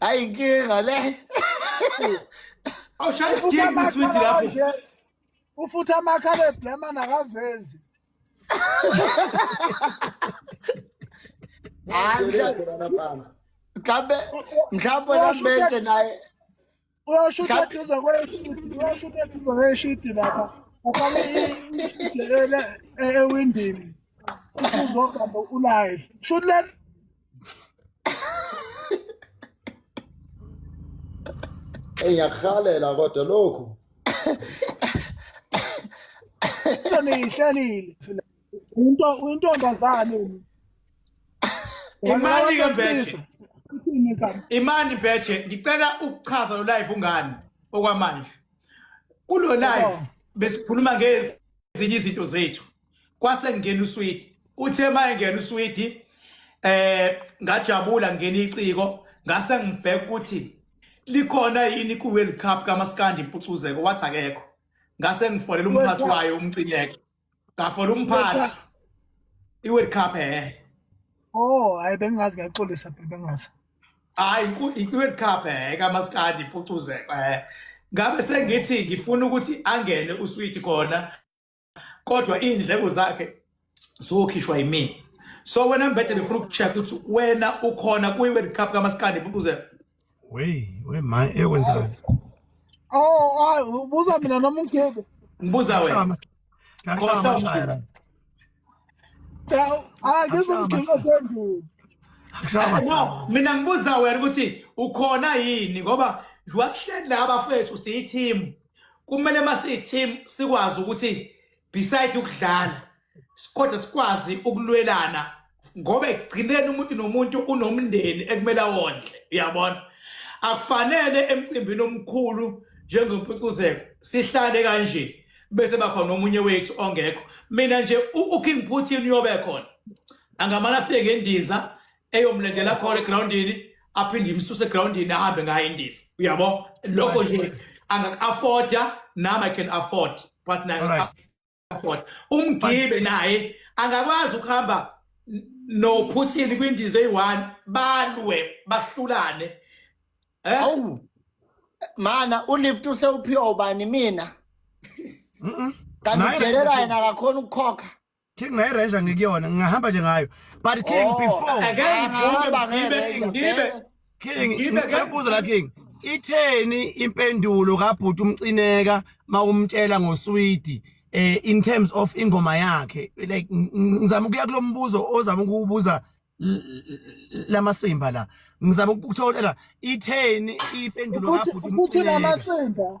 Ay, inkinga ngale. Awushaya isigidi kwiswidi lapho. Ufutha amakhala eblemana akazenzi. Hayi mhlawumbe mhlawumbe naye uyashutha Ngabe- eduze kweshidi uyashutha eduze kweshidi lapha ufake idelele ewindini uzohamba ulive shuthi le Ey ngiyakuhalela kodwa lokhu nto niyihlelile Into intombazane mina. Imani ke beche. Imani beche ngicela ukuchaza lo live ungani okwamanje. Kulo live besikhuluma ngezinye izinto zethu. Kwase ngena usweet. Uthe maye ngena usweet eh ngajabula ngena iciko ngase ngibheka ukuthi likhona yini ku World Cup kaMaskandi impucuzeko wathi akekho ngase ngifonela umphathi wayo umcineke Bafora umphathi. I-World Cup eh. Oh, hayi bengazi ngiyaxolisa phela bengazi. Hayi i-World Cup eh kamaskadi ipucuze eh. Ngabe sengithi ngifuna ukuthi angene uswidi khona kodwa indleko zakhe zokhishwa yimina. So wena mbethe ngifuna ukucheck ukuthi wena ukhona kwi-World Cup kamaskadi ipucuze. Wey, wey my ekwenzani? Oh, ay ubuza mina noma ungebe. Ngibuza wena. Ngashama ngishaya. Cha, ay ngizomgcina sendulo. Ngishama. No, mina ngibuza wena ukuthi ukhona yini ngoba njengoba sihleli la bafethu siyi-team kumele uma siyi-team sikwazi ukuthi beside ukudlala kodwa sikwazi ukulwelana ngoba ekugcineni umuntu nomuntu unomndeni ekumele awondle uyabona akufanele emcimbini omkhulu njengompucuzeko sihlale kanje bese bakhona omunye wethu ongekho mina nje uking putin uyobe khona angamane afike ngendiza eyomlendela khona egroundini aphinde imsuse egroundini ahambe ngayo indiza uyabo lokho nje angaka-afforda nami i can afford but nanga airport umgibe naye angakwazi ukuhamba noPutin kwindiza eyi-one balwe bahlulane eh? awu mana ulift usewuphiwa ubani mina kanti udelela yena akakhona ukukhokha king naye ranger ngikuyona ngingahamba nje ngayo but king oh, before ngeke ngiphume ngibe ngibe King Ngibe ngicela ka- ukubuza la King itheni impendulo kabhuti umcineka mawumtshela ngoswidi eh in terms of ingoma yakhe like ng- ng- ngizama ukuya kulombuzo ozama ukubuza lamasimba la ngizama ukuthola itheni impendulo ukuthi kabhuti ukuthi umcineka lamasimba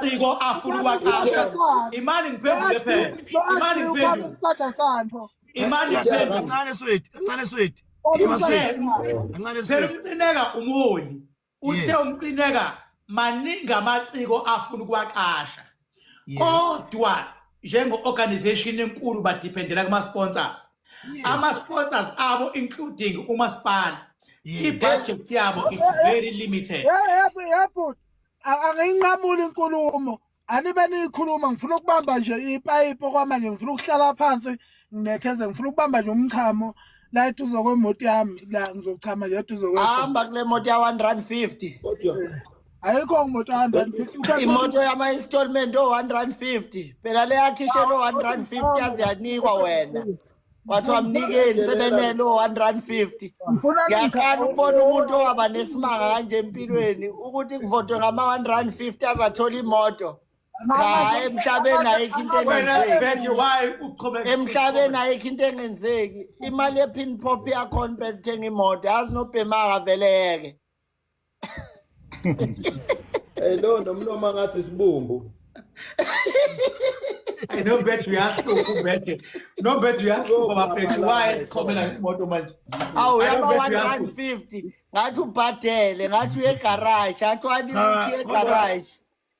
ciko afuna ukwaqasha imani ngiphendule phela imani ngiphendule isada sani pho imani ngiphendule kancane sweti kancane sweti kancane sweti umcineka umholi uthe umcineka maningi amaciko afuna ukuwaqasha kodwa njengo-organization enkulu badependela kuma-sponsors ama-sponsors abo including umasipala i-budget yabo is very limited angiyinqamuli inkulumo anibe niyikhuluma ngifuna ukubamba nje ipayipi okwamanje ngifuna ukuhlala phansi nginetheze ngifuna ukubamba nje umchamo la eduze kwemoto yami la ngizochama nje eduze kwehamba kule moto ya 150 kodwa ayikho ngimoto ya 150 imoto yama installment o 150 phela le yakhishe lo 150 yaziyanikwa wena kwathiwa mnikeni sebenele o-150 ngiyaqala ukubona umuntu owaba nesimanga kanje empilweni ukuthi kuvotwe ngama-150 azathola imoto cha emhlabeni ayikho into engenzeki emhlabeni ayikho into engenzeki imali ephin pop yakhona bethenga imoto yazi nobhemaka vele yeke Hey lo nomloma ngathi sibumbu. Hey no bet uyahluka ubethe. No bet uyahluka bafethu why sichomela imoto manje. Awu yaba 150 ngathi ubhadele ngathi uye garage athi wani uye garage.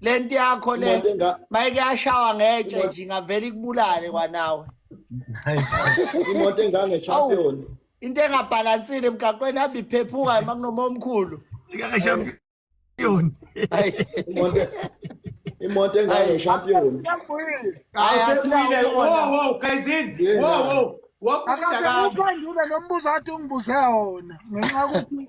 lento yakho le Umuntu enga- mayike yashawa ngetshe Umuntu- nje ngavele ikubulale kwanawe imoto engange champion into engabhalansile emgaqweni hamba iphephuka uma kunoma omkhulu Ngangeshampion. Ayi, imoto imoto engange Ayi. champion ayi, Awusebuyile. asinawo Wo wona. wo Kayizini. Yeah. Wo wo. Wakufunda kabi. akasephendule lo mbuzo athi ungibuze wona ngenxa yokuthi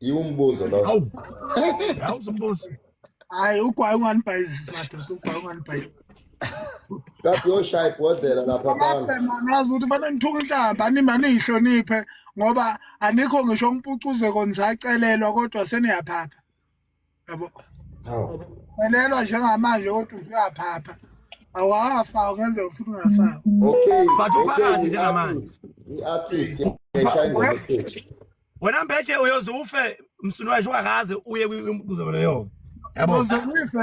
Yiwo umbuzo lo. Awu. Awu zombuzo. Hayi ugwayi unganibhayizisi madoda ugwayi unganibhayizisi. Kathi yoshaya ibhodlela lapha abantu. Ngazi ukuthi fanele ngithuke inhlamba anima niyihloniphe ngoba anikho ngisho ngimpucuze konisacelelwa kodwa seniyaphapha. yabo welelwa njengamanje kodwa usuyaphapha awafa ungenze ufuna ungafaka okay but uphakathi njengamanje i-artist wena mbeje uyoze ufe msunu washo ungakaze uye kwinkuzeko leyo yabo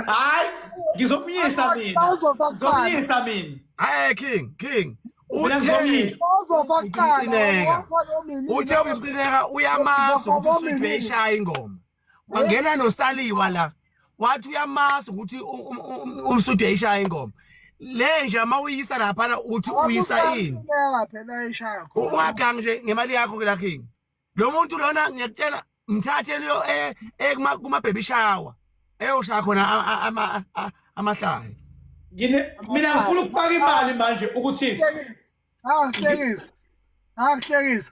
hayi ngizomyisa mina ngizomyisa mina hayi king king uthe uthe uyamazi ukuthi usuyibhesha ingoma wangena nosaliwa la wathi uyamazi ukuthi umsudi eyishaya ingoma le nje uma uyisa laphana uthi uyisa ini ungagangi nje ngemali yakho la king lo muntu lona ngiyakutshela mthathe leyo eh, eh, kuma-baby shower eyoshaya khona amahlaya mina ngifuna ukufaka imali manje ukuthi angihlekisa angihlekisa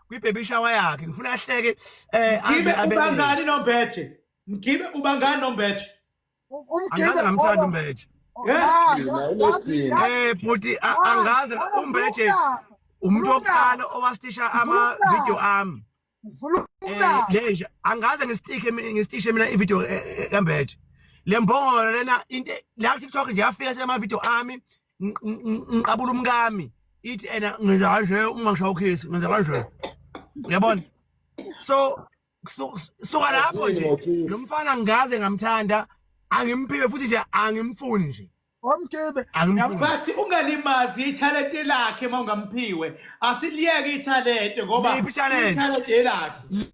kwibaby shower yakhe ngifuna ahleke eh Mgibe ubangani nombethe. Mgibe ubangani nombethe. Umgibe angazi ngamthanda umbethe Eh bhuti angazi umbethe umuntu wokuqala owastisha ama video ami eh, lenja angaze ngisitike ngistishe mina ivideo eh, eh, kambethe le mbongolo lena into la TikTok nje yafika sema video ami ngiqabula umkami ithi ena ngenza kanje uma ngishaya ukhisi ngenza kanje uyabona so suka lapho nje lo mfana ngaze ngamthanda angimphiwe futhi nje angimfuni nje omkibe bathi ungalimazi ithalente lakhe uma ungamphiwe asiliyeke ithalente ngoba ithalente lakhe